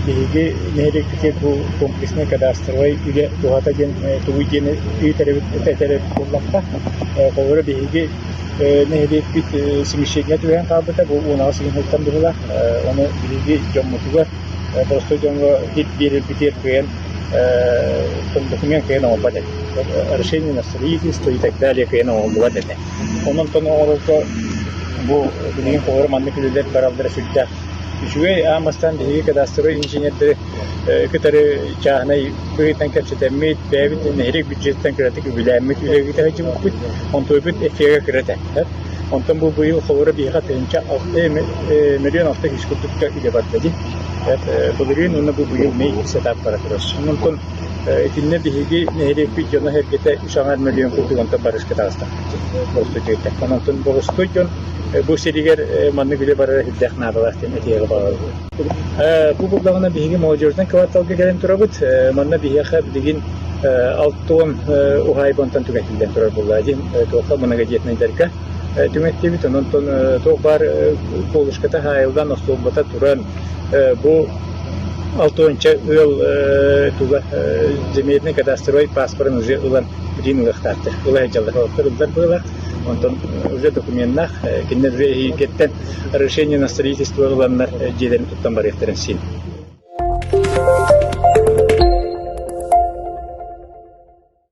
Биһиги нэһилиэкпитигэр бу комплекснай кадастровай үлэ туһата диэн тугуй диэн иитэрэбит этэрэр буоллахха, холобура биһиги нэһилиэкпит смещение түһээн хаалбыта бу унаҕас ыйынһыттан быһылаах. Ону биһиги дьоммутугар, боростой дьоҥҥо хит биэрэрбитигэр кыайан документ кыайан оҥорбот этэ. Решение на строительство и так далее кыайан оҥорбулар этэ. Онон-тон оҥорорго бу билигин холобур маннык үлэлэр бараллара сүрдээх. Үчүгэй аан бастаан биһиги кадастровай инженердэри кытары чааһынай быһыытынан кэпсэтэммит, бэйэбит нэһилиэк бюджеттэн кыратык үбүлээммит үлэбит сылдьыбыппыт, онтуйбут эффиэгэ кыра этэ. Онтон бу быйыл холобура биһиэхэ тыһыынча миллион алта сүүс курдукка үлэ барда дии. Былырыын уонна бу быйыл Мэй сетап бара турар. Онтон итиннэ биһиги нэһилиэкпит дьоно-сэргэтэ саҥа мөлүйүөн курдук онтон барыска таҕыста. Оттон онтон боростуой дьон бу сиригэр маннык үлэ барара ирдээх наадалаах диэн этиэҕи баҕарабыт. Бу булдаҕына биһиги молодеждан кварталга кэлэн турабыт. Манна биһиэхэ билигин алтон уһаайбантан түҥэтиллэн турар буллаа диэн туохха многодетнайдарга түҥэттибит. Онон туох баар колышката хаайылдан, остуолбата туран бу алтыһыанча ыал туга земельный кадастровай паспорын уже ылан билиин ылыахтаахтар ыла сылдьаллар олохтор ыллар быыла онтон уже документнаах кинилэр уже эһиилгиттэн решение на строительство ыланнар дьиэлэрин туттан барыахтарын син